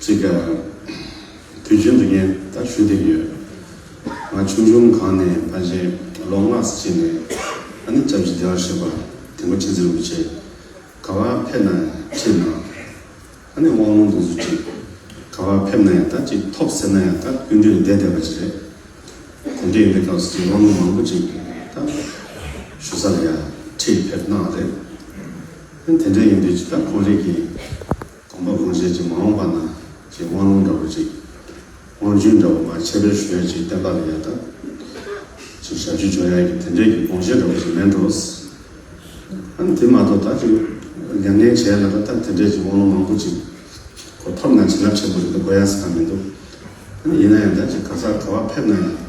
གཅིག་གིས། དུས་རྒྱུན་དུ་ངས་ད་ཞུ་དེ་ཡོད། ང་ཆུང་ཆུང་གང་ནས་ཕ་གཞས་ལོ་ལྔ་ཟི་བྱས་ནས་ཨ་ནེ་ཅག་བཞི་དེའོ་ཞེས་པ་དེ་མོ་ཆེ་ཚེ་རུ་བྱས། ག་བ་ཕེབས་ན་ཁྱེད་ན། ཨ་ནེ་དབང་ལུང་འདུག་ཟུར་གཅིག། ག་བ་ཕེབས་ན་ཡང་ད་གཅིག་ཐོབ་ཟེར་ན་ཡང་ད་ཀུན་འདུས་བསྡད་བསྡད་པ་ཅིག་རེད། གོམ་བགྲེས་ཡིན་པའི་སྐབས་སུ་དབང་ལུང་མང་པོ་ཅིག་ད་ཞུ་ས་ལ་ཡ་ཁྲིད་ཕེབས་གནང་བ་རེད། དེ་འདྲ་ཡིན་དུས་ད་གོང་རིགས་ཀྱི། དམ་པ་གང་བྱེད་ཅིག་མ་འོངས་པ་ན་ཅིག་དབང་ལུང་འདྲ་བོ་ཅིག། དབང་རྒྱུད་འདྲ་བོ་མ་ཁྱད་པའི་ཞོལ་ཅིག་བསྟན་པ་ལ་ཡལ་ཐབས། ཅིག་ཞབས་ཀྱི་འཇོག་ཡ་གི་དེ་འདྲས་ཀྱི་དགོངས་བཞེད་འདྲ་བོ་ཅིག་མེད་འགྲོ། ཨང་དེ་མ་གཏོགས་ད་ཅིག་མྱ་ངན་བྱས་ལ་ད་ལྟ་དེ་འདྲས་ཀྱི་དབང་ལུང་མང་པོ་ཅིག་གོ་ཕབ་ན་བྱིན་རླབས་ཆེན་པོ་རེད་འདུག་གོ་ཡ་ས་མི་འདུག། ཡིན་ན་ཡང་ད་ཅིག་ག་ས་ག་བ་ཕེབས་ན་ཡང།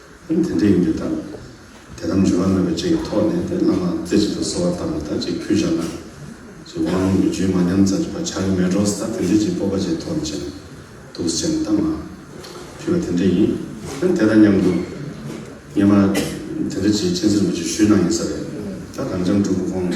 དེ་འདྲ་ཡིན་དུས་ད་དེ་ལྟར་འབྱོར་བ་མེད་པ་ཅིག་གི་ཐོག་ནས་དེ་བླ་མ་རྩེ་གཅིག་ཏུ་གསོལ་བ་བཏབ་ནས་ད་ཅིག་ཕུལ་བཞག་ན། ཅིག་དབང་ལུང་གི་རྒྱུད་མ་ཉམས་ཙམ་ཅིག་བར་ཆགས་ཀྱི་མེད་འགྲོ་ས་དོན་གྱིས་ཅིག་སྤོབས་པ་བཅས་ཐོག་ནས་བྱས་ན་འདུག་བྱས་ནས་ད་མ་ཕུལ་བ་དེ་འདྲ་ཡིན། ཡང་དེ་དང་མཉམ་དུ། ངས་མ་དེ་འདྲ་ཅིག་སྤྱན་གཟིགས་མོ་ཅིག་ཞུས་གནང་ཡིན་ས་རེད། ད་གངས་ལྗང་འབྲུག་གི་ཁོང།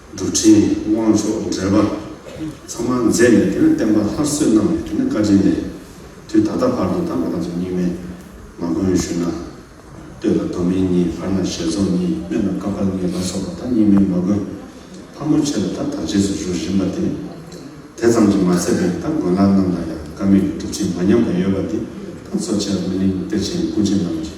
འགྲོ་ཁྲིད་དབང་ཆོག་འགྲེལ་པ་ཚང་མ་མཛད་ནས་དེ་ནས་བསྟན་པ་སླར་གསོས་གནང་བས་དེ་ནས་བཀའ་དྲིན་ལས། དུས་ད་ལྟ་བར་དུ་ད་ང་རང་ཚོ་གཉིས་མེད་མ་མགོན་ཞུ་ན་སྟོད་ལ་མདོ་སྨད་གཉིས་བར་ན་ཞལ་རྫོགས་གཉིས་སྨད་ན་ཀ་པར་གཉིས་ལ་སོགས་པ་ད་གཉིས་མེད་མ་མགོན་ཕ་མོ་ཆེ་ལ་ད་དར་རྗེས་སུ་བཞུགས་བཞིན་པ་དེ་དེ་ཙམ་གྱིས་མ་ཚད་པས་ད་མགོན་ལགས་རྣམས་ལ་ཡང་ཀ་མེད་ཀྱི་སྒྲུབ་བྱེད་མ་ཉམས་པ་ཡོད་པ་འདི་ད་གཙོ་ཆེར་སྨོན་གླིང་གཏེར་ཆེན་སྐུ་མཆེད་རྣམས་ཀྱིས།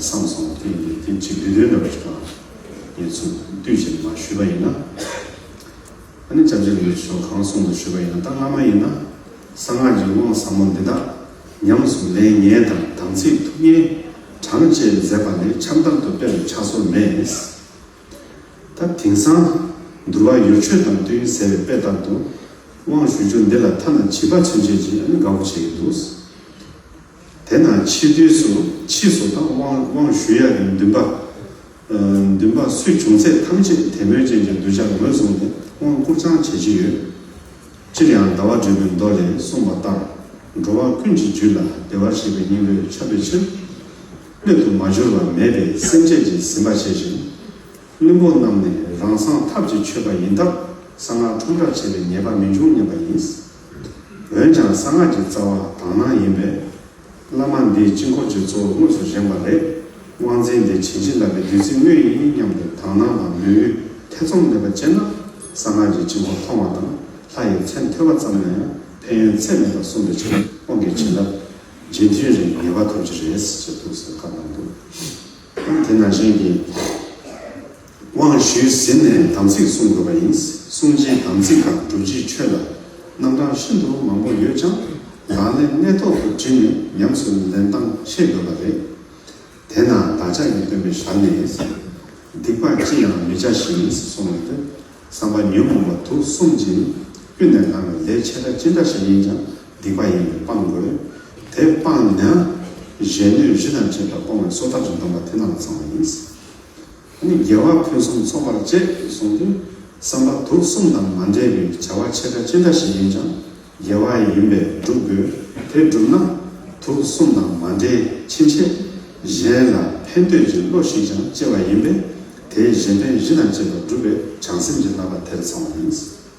སང་སོང་བ་དེ་ཡིན་ཏེ་དེ་ཅི་འདོད་འདོད་འདྲ་བ་ཞིག་དང། ངེད་ཚོས་བསྡུས་བྱས་ནས་མ་ཞུས་པ་ཡིན་ན། ཨ་ནི་བྱབྱ་ལུའི་ཆོས་གང་གསུངས་འདུག་ཞུས་པ་ཡིན་ན་ད་སྔ་མ་ཡིན་ན། གསང་སྔགས་ཀྱི་དབང་ཟབ་མོ་འདི་དག་ཉམས་སུ་ལེན་ངེས་དང་དམ་ཚིག་ཐུགས་གཉེན་བགྲང་བཅས་མཛད་པ་ནི་ཆབ་མདར་དུ་དཔེ་རུ་ཆགས་སོར་མེད། ད་དེང་སང། འདུལ་བ་ཡོ་ཆོས་དང་བསྟོད་ཡུལ་ཟེར་བའི་དཔེ་ལྟར་དུ། དབང་ཞུ་རྒྱུ་འདི་ལ་ཐ་ན་བྱིས་པ་ཚུན་ཆད་ཀྱིས་ཨ་ནི་དགའ་བོ་བྱེད་ཀྱི་འདུག། དེ་ན་ཕྱི་དུས་སུ་ཕྱིས་སུ་དང་དབང་ཞུ་ཡ་གི་འདུན་པ། འདུན་པ་སུས་བྱུང་ཚད་ཐམས་ཅད་དད་མོས་ཅན་གྱི་གདུལ་བྱར་ངོས་བཟུང་སྟེ་དབང་བསྐུར་ཚང་བྱེད་ཀྱི་ཡོད། སྤྱིར་ཡང་ཟླ་བ་སྒྲོལ་མའི་མདོ་ལས་གསུངས་པ་ལྟར་འགྲོ་བ་ཀུན་གྱི་རྒྱུད་ལ་བདེ་བར་གཤེགས་པའི་སྙིང་པོས་ཁྱབ་པའི་ཕྱིར། སྣོད་དུ་མ་གྱུར་པ་མེད་པའི་སེམས་བསྐྱེད་ཀྱི་ཟིན་པ་བྱས་ཤིང། བླུན་པོ་རྣམས་ནས་རང་སངས་ཐབས་ཀྱི་ཆོས་པ་ཡིན་སྟབས་གསང་སྔགས་ཁྲོམ་བསྒྲགས་བྱས་པའི་ཉེས་པ་མི་འབྱུང་སྙམ་པ་ཡིན། འོན་ཀྱང་གསང་སྔགས་ཀྱི་རྩ་བ་དག་སྣང་ཡིན་པས། བླ་མ་འདིས་དཀྱིལ་འཁོར་གྱི་གཙོ་བོ་དངོས་སུ་བཞེངས་པ་ལས། དབང་རྫས་འདི་བྱིན་གྱིས་བརླབས་པའི་བདུད་རྩི་དངོས་ཡིན་སྙམ་དུ་དག་སྣང་དང་མོས་གུས་ཐེ་ཚོམ་མེད་པར་སྤྱད་ན། གསང་སྔགས་ཀྱི་དཀྱིལ་འཁོར་མཐོང་བ་དང་ལྷ་ཡི་མཚན་ཐོས་པ་ཙམ་ན་ཡང་ཕན་ཡོན་ཚད་མེད་པ་གསུངས་པའི་ཕྱིར་དབང་གི་བྱིན་རླབས་རྗེས་མཐུན་རེ་ངེས་པ་ཐོབ་ཀྱི་རེད་ཅེས་ཐུགས་གསོལ་བཀའ་གནང་འདུག་དེ་ན་གཞན་གྱིས། དབང་ཞུས་ཟིན་ནས་དམ་ཚིག་བསྲུང་དགོས་པ་ཡིན། བསྲུང་བྱའི་དམ་ཚིག་དང་སྒྲུབ་བྱའི་ཆོས་ལ་རྣམ་གྲངས་ཤིན་ཏུ་མང་པོ་ཡོད་ཀྱང་ལག་ལེན་གནད་ཐོག་ཏུ་དྲིལ་ནས་ཉམས་སུ་ལེན་སྟངས་ཤེས་དགོས་པ་རེད། དེས་ན་བདག་ཅག་གི་སྟོན་པའི་ཞར་ནས་སྡིག་པ་ཅི་ཡང་མི་བྱ་ཞིང་བསྲུང་བའི་བསམ་པ་ཉོན་མོངས་པ་དུག་གསུམ་གྱིས་ཀུན་ནས་བསླང་བའི་ལས་ཆེ་ཕྲ་ཅི་འདྲ་ཞིག་ཡིན་ཀྱང་སྡིག་པ་ཡིན་པས་སྤང་དགོས། དེ་སྤངས་ན་གཞན་གནོད་གཞི་དང་བཅས་པ་སྤོང་བའི་སྲོག་ཐར་གྱི་སྡོམ་པ་དེ་རྣམས་ཚང་བ་ཡིན། ད་ནི་རྒྱལ་བ་ཕུན་སུམ་ཚོགས་པར་བཅས་སུ་གསུངས་རྒྱུ་བསམ་པ་དུག་གསུམ་དང་མ་འདྲེས་པའི་བྱ་བ་ཆེ་ཕྲ་ཅི་འདྲ་ཞིག་ཡིན་ཀྱང་རྒྱལ་བ་ཡིན་པས་བསྒྲུབ་དགོས་དེ་བསྒྲུབས་ན་དུག་གསུམ་དང་མ་འདྲེས་ཕྱིན་ཆད་གཞན་ལ་ཕན་འདོད་ཀྱི་བློ་ཞིག་ཀྱང་སྐྱེ་བ་ཡིན་པས་དེས་གཞན་ཕན་བཞི་དང་བཅས་པ་བསྒྲུབ་པའི་བྱང་སེམས་ཀྱི་བསླབ་པ་དེར་ཚང་བ་ཡིན།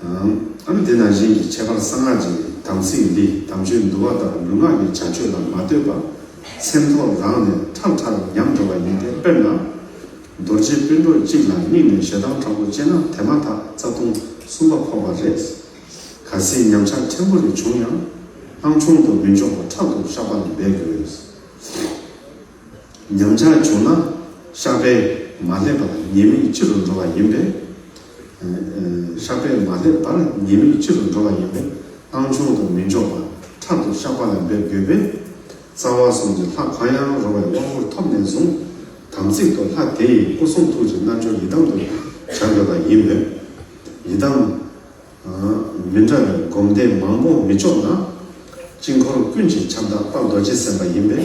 འམ་དེ་དང་གཞན་གྱི་ཁྱད་པར་གསང་སྔགས་ཀྱི་དམ་ཚིག་འདི་དམ་ཆོས་འདུལ་བ་དང་ལུས་ངག་གི་བྱ་སྤྱོད་ལ་མ་ལྟོས་པར་སེམས་ཐོག་རང་ནས་ཁྲག་ཁྲར་ཉམས་འགྲོ་བ་ཡིན་ཏེ་དཔེར་ན། རྡོ་རྗེ་དཔོན་གྲོགས་གཅིག་ལ་དམིགས་ནས་ཞེ་སྡང་དྲག་པོ་སྤྱད་ན་དེ་མ་ཐག་རྩ་ལྟུང་གསུམ་པ་ཕོག་པ་རེད། གལ་སྲིད་ཉམས་ཆག་ཕྲན་བུ་རེ་བྱུང་ཡང། སྣང་ཆུང་དུ་མི་འཇོག་པར་ཕྲག་ཏུ་བཤགས་པ་ལ་འབད་དགོས། ཉམས་ཆག་བྱུང་ན་བཤགས་པས་མ་བསླད་པར་ཉེས་དམིགས་ལྕི་རུ་འགྲོ་བ་ཡིན་པས། བཤགས་པས་མ་སླེབས་པར་ཉེས་དམིགས་ཕྱི་རུ་འགྲོ་བ་ཡིན་པས་བཏང་ཆུང་དུ་མི་འཇོག་པར་ཕྲག་ཏུ་བཤགས་པ་ལ་འབད་དགོས་པས། རྩ་བ་གསུམ་གྱི་ལྷ་གང་ཡང་རུང་བའི་དབང་བསྐུར་ཐོབ་ནས་བཟུང། དམ་ཚིག་ཏུ་ལྷ་དེ་ཡི་སྐུ་གསུང་ཐུགས་ཀྱི་རྣལ་འབྱོར་ཡི་དམ་དུ་བྱ་དགོས་པ་ཡིན་མོད། ཡི་དམ། མི་འདྲ་བའི་སྒོམ་བཟླས་མང་པོ་མི་ལྕོགས་ན། དཀྱིལ་འཁོར་ཀུན་གྱི་ཁྱབ་བདག་དཔའ་རྡོ་རྗེ་སེམས་དཔའ་ཡིན་པས།